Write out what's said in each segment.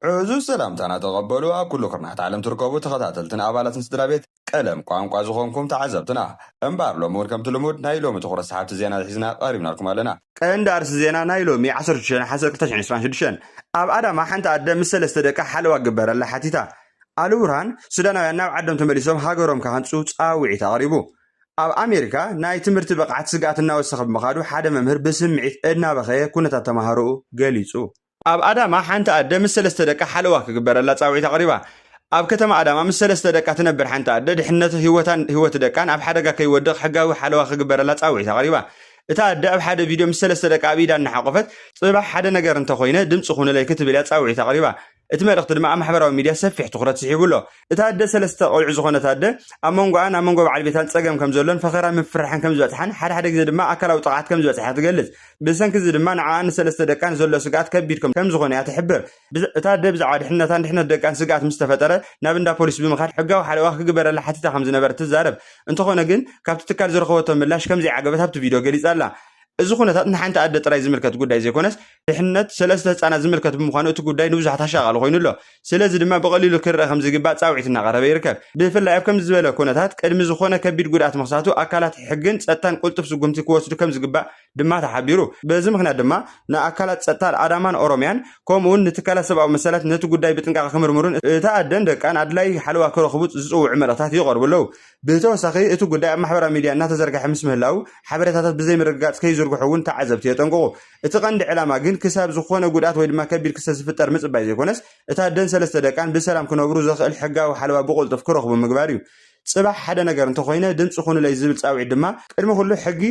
ዕዙዝ ሰላምታና ተቐበሉ ኣብ ኩሉ ኩርናዓት ዓለም ትርከቡ ተኸታተልትን ኣባላትን ስድራቤት ቀለም ቋንቋ ዝኾንኩም ተዓዘብትና። እምበኣር ሎሚ ውን ከምቲ ልሙድ ናይ ሎሚ ትኹረት ሰሓብቲ ዜና ሒዝና ቀሪብናልኩም ኣለና። ቀንዲ ኣርእስቲ ዜና ናይ ሎሚ ዓሰርተ ሽዱሽተ ነሓሰ ክልተ ሽሕን ዕስራን ሽዱሽተን ኣብ ኣዳማ ሓንቲ ኣደ ምስ ሰለስተ ደቃ ሓለዋ ክግበረላ ሓቲታ ኣልቡርሃን ሱዳናውያን ናብ ዓዶም ተመሊሶም ሃገሮም ክሃንጹ ጻውዒት ኣቕሪቡ ኣብ ኣሜሪካ ናይ ትምህርቲ ብቕዓት ስግኣት እናወሰኸ ብምኻዱ ሓደ መምህር ብስምዒት እናበኸየ ኩነታት ተማሃሮኡ ገሊጹ። ኣብ ኣዳማ ሓንቲ ኣደ ምስ ሰለስተ ደቃ ሓለዋ ክግበረላ ጻውዒት ኣቕሪባ። ኣብ ከተማ ኣዳማ ምስ ሰለስተ ደቃ ትነብር ሓንቲ ኣደ፣ ድሕነት ህይወታን ህይወት ደቃን ኣብ ሓደጋ ከይወድቕ ሕጋዊ ሓለዋ ክግበረላ ጻውዒት ኣቕሪባ። እታ ኣደ ኣብ ሓደ ቪድዮ ምስ ሰለስተ ደቃ ኣብ ኢዳ እናሓቖፈት፣ ጽባሕ ሓደ ነገር እንተኾይነ ድምጺ ኹኑለይ ክትብል'ያ ጻውዒት ኣቕሪባ። እቲ መልእኽቲ ድማ ኣብ ማሕበራዊ ሚድያ ሰፊሕ ትኹረት ስሒቡ'ሎ። እታ ኣደ ሰለስተ ቆልዑ ዝኾነት ኣደ ኣብ መንጎኣን ኣብ መንጎ በዓል ቤታን ጸገም ከምዘሎን ፈኸራን ምፍርራሕን ከምዝበጽሓን ሓደ ሓደ ግዜ ድማ ኣካላዊ ጥቕዓት ከምዝበጽሓ ትገልጽ። ብሰንኪ እዚ ድማ ንዓኣን ንሰለስተ ደቃን ዘሎ ስግኣት ከቢድ ከምዝኾነ እያ ትሕብር። እታ ኣደ ብዛዕባ ድሕነታን ድሕነት ደቃን ስግኣት ምስ ተፈጠረ ናብ እንዳ ፖሊስ ብምኻድ ሕጋዊ ሓለዋ ክግበረላ ሓቲታ ከምዝነበረት ትዛረብ። እንተኾነ ግን ካብቲ ትካል ዝረኸበቶ ምላሽ ከምዘይዓገበት ኣብቲ ቪድዮ ገሊጻ'ላ። እዚ ኩነታት ንሓንቲ ኣደ ጥራይ ዝምልከት ጉዳይ ዘይኮነስ፣ ድሕነት ሰለስተ ህጻናት ዝምልከት ብምዃኑ እቲ ጉዳይ ንብዙሓት ኣሻቓሊ ኮይኑ ኣሎ። ስለዚ ድማ ብቐሊሉ ክርኣ ከምዝግባእ ጻውዒት እናቐረበ ይርከብ። ብፍላይ ኣብ ከምዚ ዝበለ ኩነታት ቅድሚ ዝኾነ ከቢድ ጉድኣት ምኽሳቱ ኣካላት ሕግን ጸጥታን ቅልጡፍ ስጉምቲ ክወስዱ ከምዝግባእ ድማ ተሓቢሩ። በዚ ምኽንያት ድማ ንኣካላት ጸጥታ ኣዳማን ኦሮምያን ከምኡ'ውን ንትካላት ሰብኣዊ መሰላት ነቲ ጉዳይ ብጥንቃቐ ክምርምሩን እታ ኣደን ደቃን ኣድላዪ ሓለዋ ክረኽቡ ዝጽውዑ መልእኽታት ይቐርቡ ኣለዉ። ብተወሳኺ እቲ ጉዳይ ኣብ ማሕበራዊ ሚድያ እናተዘርገሐ ምስ ምህላዉ ሓበሬታታት ብዘይምርግጋፅ ከይዝርግሑ እውን ተዓዘብቲ የጠንቅቑ። እቲ ቀንዲ ዕላማ ግን ክሳብ ዝኾነ ጉድኣት ወይ ድማ ከቢድ ክስተት ዝፍጠር ምፅባይ ዘይኮነስ እታ ኣደን ሰለስተ ደቃን ብሰላም ክነብሩ ዘኽእል ሕጋዊ ሓለዋ ብቕልጡፍ ክረኽቡ ምግባር እዩ። ፅባሕ ሓደ ነገር እንተኾይነ ድምፂ ኹኑለይ ዝብል ፃውዒት ድማ ቅድሚ ኹሉ ሕጊ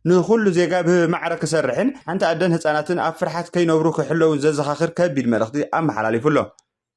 ንኹሉ ዜጋ ብማዕረ ክሰርሕን ሓንቲ ኣደን ህፃናትን ኣብ ፍርሓት ከይነብሩ ክሕለዉን ዘዘኻኽር ከቢድ መልእኽቲ ኣመሓላሊፉ ኣሎ።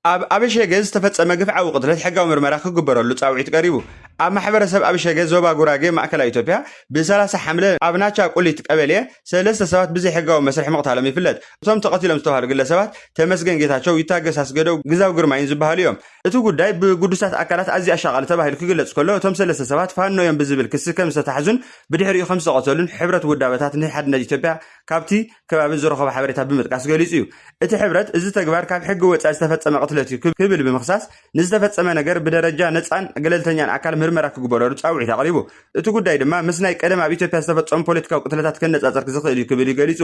ኣብ ኣብሸገ ዝተፈጸመ ግፍዓዊ ቅትለት ሕጋዊ ምርመራ ክግበረሉ ጻውዒት ቀሪቡ። ኣብ ማሕበረሰብ ኣብሸገ ዞባ ጉራጌ ማእከላይ ኢትዮጵያ ብ ሰላሳ ሓምለ ኣብ ናቻ ቁሊት ቀበሌ ሰለስተ ሰባት ብዘይሕጋዊ መስርሕ ምቕታሎም ይፍለጥ። እቶም ተቐቲሎም ዝተብሃሉ ግለሰባት ተመስገን ጌታቸው፣ ይታገስ ኣስገደው፣ ግዛው ግርማይን ዝበሃሉ እዮም። እቲ ጉዳይ ብግዱሳት ኣካላት ኣዝዩ ኣሻቓሊ ተባሂሉ ክግለጽ ከሎ እቶም ሰለስተ ሰባት ፋኖ እዮም ብዝብል ክሲ ከም ዝተታሕዙን ብድሕሪኡ ከም ዝተቐተሉን ሕብረት ውዳበታት ንሓድነት ኢትዮጵያ ካብቲ ከባቢ ዝረኸቦ ሓበሬታ ብምጥቃስ ገሊጹ እዩ። እቲ ሕብረት እዚ ተግባር ካብ ሕጊ ወጻኢ ዝተፈጸመ ቅትለት እዩ ክብል ብምኽሳስ ንዝተፈጸመ ነገር ብደረጃ ነጻን ገለልተኛን ኣካል ምርመራ ክግበረሉ ጻውዒት ኣቕሪቡ። እቲ ጉዳይ ድማ ምስ ናይ ቀደም ኣብ ኢትዮጵያ ዝተፈጸሙ ፖለቲካዊ ቅትለታት ክነጻጸር ዝኽእል እዩ ክብል እዩ ገሊጹ።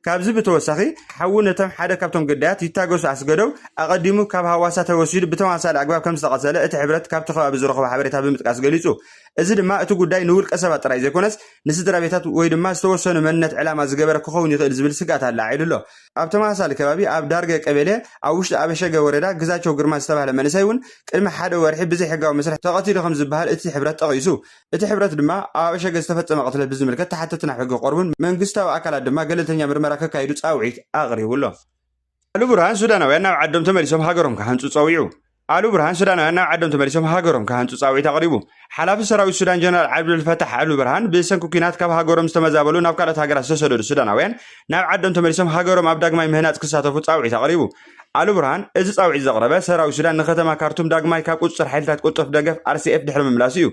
ካብዚ ብተወሳኺ ሓዉ ነቶም ሓደ ካብቶም ግዳያት ይታገሱ ኣስገዶው ኣቐዲሙ ካብ ሃዋሳ ተወሲዱ ብተመሳሳሊ ኣግባብ ከምዝተቐተለ እቲ ሕብረት ካብቲ ከባቢ ዝረኸቦ ሓበሬታ ብምጥቃስ ገሊጹ። እዚ ድማ እቲ ጉዳይ ንውልቀሰባት ጥራይ ዘይኮነስ ንስድራቤታት ወይ ድማ ዝተወሰኑ መንነት ዕላማ ዝገበረ ክኸውን ይኽእል ዝብል ስግኣት ኣለዓዒሉ ኣሎ። ኣብ ተመሳሳሊ ከባቢ ኣብ ዳርገ ቀቤሌ ኣብ ውሽጢ ኣበሸገ ወረዳ ግዛቸው ግርማ ዝተባህለ መንእሰይ እውን ቅድሚ ሓደ ወርሒ ብዘይሕጋዊ መስርሕ ተቐቲሉ ከም ዝበሃል እቲ ሕብረት ጠቒሱ። እቲ ሕብረት ድማ ኣብ ኣበሸገ ዝተፈጸመ ቅትለት ብዝምልከት ተሓተቲ ናብ ሕጊ ክቐርቡን መንግስታዊ ኣካላት ድማ ገለልተኛ ምርመራ ከካይዱ ጻውዒት ኣቕሪቡ ኣሎ። ኣሉ ብርሃን ሱዳናውያን ናብ ዓዶም ተመሊሶም ሃገሮም ክሃንጹ ጸዊዑ ኣሉ ብርሃን ሱዳናውያን ናብ ዓዶም ተመሊሶም ሃገሮም ክሃንጹ ጻውዒት ኣቕሪቡ። ሓላፊ ሰራዊት ሱዳን ጀነራል ዓብዱልፈታሕ ኣሉ ብርሃን ብሰንኪ ኲናት ካብ ሃገሮም ዝተመዛበሉ ናብ ካልኦት ሃገራት ዝተሰደዱ ሱዳናውያን ናብ ዓዶም ተመሊሶም ሃገሮም ኣብ ዳግማይ ምህናጽ ክሳተፉ ጻውዒት ኣቕሪቡ። ኣሉ ብርሃን እዚ ጻውዒት ዘቕረበ ሰራዊት ሱዳን ንከተማ ካርቱም ዳግማይ ካብ ቁጽጽር ሓይልታት ቁጠፍ ደገፍ RCF ድሕሪ ምምላሱ እዩ።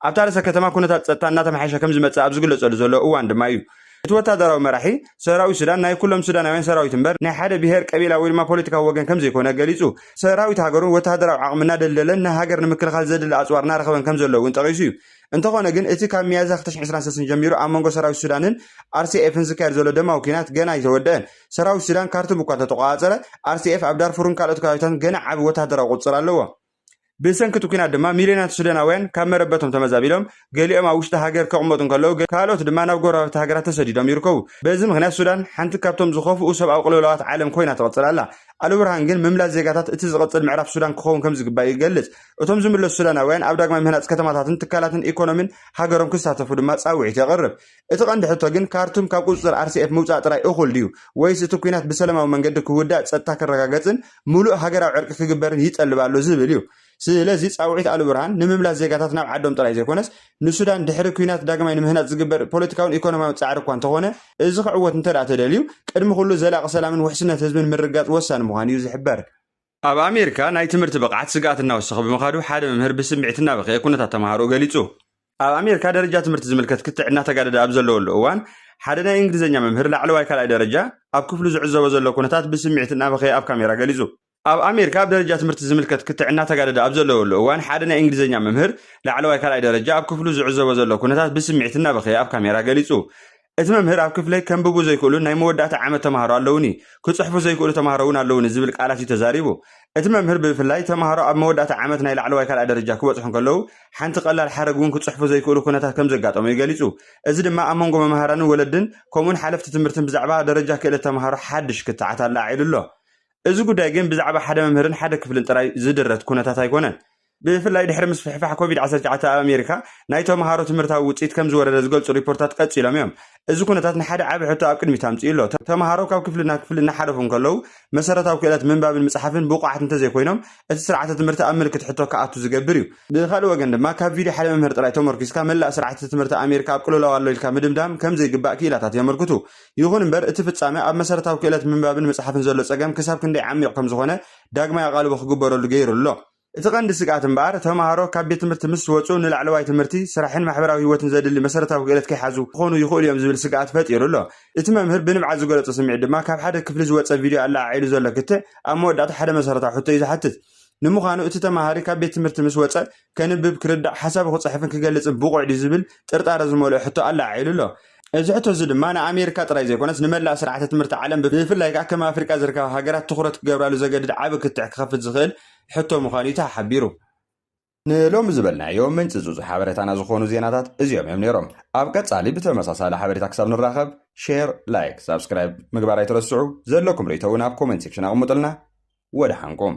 ኣብታ ርእሰ ከተማ ኩነታት ጸጥታ እናተመሓየሸ ከምዝመጽእ ኣብ ዝግለጸሉ ዘሎ እዋን ድማ እዩ እቲ ወታደራዊ መራሒ፣ ሰራዊት ሱዳን ናይ ኩሎም ሱዳናውያን ሰራዊት እምበር ናይ ሓደ ብሄር፣ ቀቢላ ወይ ድማ ፖለቲካዊ ወገን ከምዘይኮነ ገሊጹ። ሰራዊት ሃገሩን ወተሃደራዊ ዓቕሚ እናደልደለን ንሃገር ንምክልኻል ዘድሊ ኣጽዋር እናረኸበን ከምዘሎ'ውን ጠቒሱ እዩ። እንተኾነ ግን እቲ ካብ ሚያዝያ ክልተ ሽሕን ዕስራን ሰለስተን ጀሚሩ ኣብ መንጎ ሰራዊት ሱዳንን ኣርሲኤፍን ዝካየድ ዘሎ ደማዊ ኲናት ገና ኣይተወደኣን። ሰራዊት ሱዳን ካርቱም እኳ እንተተቖጻጸረ፣ ኣርሲኤፍ ኣብ ዳርፉርን ካልኦት ከባቢታትን ገና ዓቢ ወተሃደራዊ ቁጽጽር ኣለዎ። ብሰንኪ እቲ ኲናት ድማ ሚልዮናት ሱዳናውያን ካብ መረበቶም ተመዛቢሎም፣ ገሊኦም ኣብ ውሽጢ ሃገር ክቕመጡ እንከለዉ፣ ካልኦት ድማ ናብ ጎረባብቲ ሃገራት ተሰዲዶም ይርከቡ። በዚ ምኽንያት ሱዳን ሓንቲ ካብቶም ዝኸፍኡ ሰብኣዊ ቅልውላዋት ዓለም ኮይና ትቕጽል ኣላ። ኣልቡርሃን ግን ምምላስ ዜጋታት እቲ ዝቕጽል ምዕራፍ ሱዳን ክኸውን ከምዝግባእ ይገልጽ። እቶም ዝምለሱ ሱዳናውያን ኣብ ዳግማይ ምህናጽ ከተማታትን ትካላትን ኢኮኖሚን ሃገሮም ክሳተፉ ድማ ጻውዒት የቕርብ። እቲ ቀንዲ ሕቶ ግን ካርቱም ካብ ቁፅፅር RCF ምውፃእ ጥራይ እኹል ድዩ? ወይስ እቲ ኲናት ብሰለማዊ መንገዲ ክውዳእ፣ ፀጥታ ክረጋገፅን ሙሉእ ሃገራዊ ዕርቂ ክግበርን ይጠልብ ኣሎ ዝብል እዩ። ስለዚ ፃውዒት ኣልቡርሃን ንምምላስ ዜጋታት ናብ ዓዶም ጥራይ ዘይኮነስ ንሱዳን ድሕሪ ኲናት ዳግማይ ንምህናፅ ዝግበር ፖለቲካውን ኢኮኖሚያውን ፃዕሪ እኳ እንተኾነ እዚ ክዕወት እንተድኣ ተደልዩ ቅድሚ ኩሉ ዘላቒ ሰላምን ውሕስነት ህዝብን ምርግጋፅ ወሳኒ ምዃኑ እዩ ዝሕበር። ኣብ ኣሜሪካ ናይ ትምህርቲ ብቕዓት ስግኣት እናወሰኸ ብምኻዱ ሓደ መምህር ብስምዒት እናበኸየ ኩነታት ተምሃሮኡ ገሊጹ። ኣብ ኣሜሪካ ደረጃ ትምህርቲ ዝምልከት ክትዕ እናተጋደደ ኣብ ዘለወሉ እዋን፣ ሓደ ናይ እንግሊዝኛ መምህር ላዕለዋይ ካልኣይ ደረጃ ኣብ ክፍሉ ዝዕዘቦ ዘሎ ኩነታት ብስምዒት እናበኸየ ኣብ ካሜራ ገሊጹ። ኣብ ኣሜሪካ ኣብ ደረጃ ትምህርቲ ዝምልከት ክትዕ እናተጋደደ ኣብ ዘለወሉ እዋን፣ ሓደ ናይ እንግሊዝኛ መምህር ላዕለዋይ ካልኣይ ደረጃ ኣብ ክፍሉ ዝዕዘቦ ዘሎ ኩነታት ብስምዒት እናበኸየ ኣብ ካሜራ ገሊጹ። እቲ መምህር ኣብ ክፍለይ ከንብቡ ዘይክእሉን ናይ መወዳእታ ዓመት ተማሃሮ ኣለዉኒ፣ ክጽሕፉ ዘይክእሉ ተማሃሮ እውን ኣለዉኒ ዝብል ቃላት እዩ ተዛሪቡ። እቲ መምህር ብፍላይ ተማሃሮ ኣብ መወዳእታ ዓመት ናይ ላዕለዋይ ካልኣይ ደረጃ ክበጽሑ እንከለዉ ሓንቲ ቀላል ሓረግ እውን ክጽሕፉ ዘይክእሉ ኩነታት ከምዘጋጠሞ እዩ ገሊጹ። እዚ ድማ ኣብ መንጎ መማህራንን ወለድን ከምኡውን ሓለፍቲ ትምህርትን ብዛዕባ ደረጃ ክእለት ተማሃሮ ሓድሽ ክትዓት ኣለዓዒሉ ኣሎ። እዚ ጉዳይ ግን ብዛዕባ ሓደ መምህርን ሓደ ክፍልን ጥራይ ዝድረት ኩነታት ኣይኮነን። ብፍላይ ድሕሪ ምስፍሕፋሕ ኮቪድ ዓሰርተ ትሽዓተ ኣብ ኣሜሪካ ናይ ተምሃሮ ትምህርታዊ ውፅኢት ከም ዝወረደ ዝገልፁ ሪፖርታት ቀፂሎም እዮም። እዚ ኩነታት ንሓደ ዓቢ ሕቶ ኣብ ቅድሚት ኣምፂኡ ኣሎ። ተምሃሮ ካብ ክፍሊ ናብ ክፍሊ እናሓለፉ እንከለዉ መሰረታዊ ክእለት ምንባብን ምፅሓፍን ብቑዓት እንተዘይኮይኖም እቲ ስርዓተ ትምህርቲ ኣብ ምልክት ሕቶ ክኣቱ ዝገብር እዩ። ብኻልእ ወገን ድማ ካብ ቪድዮ ሓደ መምህር ጥራይ ተመርኲስካ መላእ ስርዓተ ትምህርቲ ኣሜሪካ ኣብ ቅልውላው ኣሎ ኢልካ ምድምዳም ከም ዘይግባእ ክኢላታት የመልክቱ። ይኹን እምበር እቲ ፍፃመ ኣብ መሰረታዊ ክእለት ምንባብን ምፅሓፍን ዘሎ ፀገም ክሳብ ክንደይ ዓሚቕ ከም ዝኾነ ዳግማይ ኣቓልቦ ክግበረሉ ገይሩ ኣሎ። እቲ ቀንዲ ስግኣት እምበኣር፣ ተመሃሮ ካብ ቤት ትምህርቲ ምስ ወጹ ንላዕለዋይ ትምህርቲ፣ ስራሕን ማሕበራዊ ህይወትን ዘድሊ መሰረታዊ ክእለት ከይሓዙ ክኾኑ ይኽእሉ እዮም ዝብል ስግኣት ፈጢሩ ኣሎ። እቲ መምህር ብንብዓት ዝገለጾ ስምዒት ድማ ካብ ሓደ ክፍሊ ዝወጸ ቪድዮ ኣለዓዒሉ ዘሎ ክትዕ ኣብ መወዳእታ ሓደ መሰረታዊ ሕቶ እዩ ዝሓትት። ንምዃኑ እቲ ተመሃሪ ካብ ቤት ትምህርቲ ምስ ወጸ ከንብብ፣ ክርዳእ፣ ሓሳቡ ክጽሕፍን ክገልጽን ብቑዕ ድዩ ዝብል ጥርጣረ ዝመልኦ ሕቶ ኣለዓዒሉ ኣሎ። እዚ ሕቶ እዚ ድማ ንኣሜሪካ ጥራይ ዘይኮነስ ንመላእ ስርዓተ ትምህርቲ ዓለም ብፍላይ ከኣ ከም ኣፍሪቃ ዝርከባ ሃገራት ትኹረት ክገብራሉ ዘገድድ ዓቢ ክትዕ ክኸፍት ዝኽእል ሕቶ ምዃኑ እዩ ተሓሓቢሩ። ንሎሚ ዝበልናዮ ምንጽጹጽ ሓበረታና ዝኾኑ ዜናታት እዚኦም እዮም ነይሮም። ኣብ ቀጻሊ ብተመሳሳሊ ሓበሬታ ክሳብ ንራኸብ ሼር ላይክ ሳብስክራይብ ምግባር ኣይትረስዑ። ዘለኩም ርእይቶ እውን ኣብ ኮመንት ሴክሽን ኣቕምጡልና። ወደሓንኩም።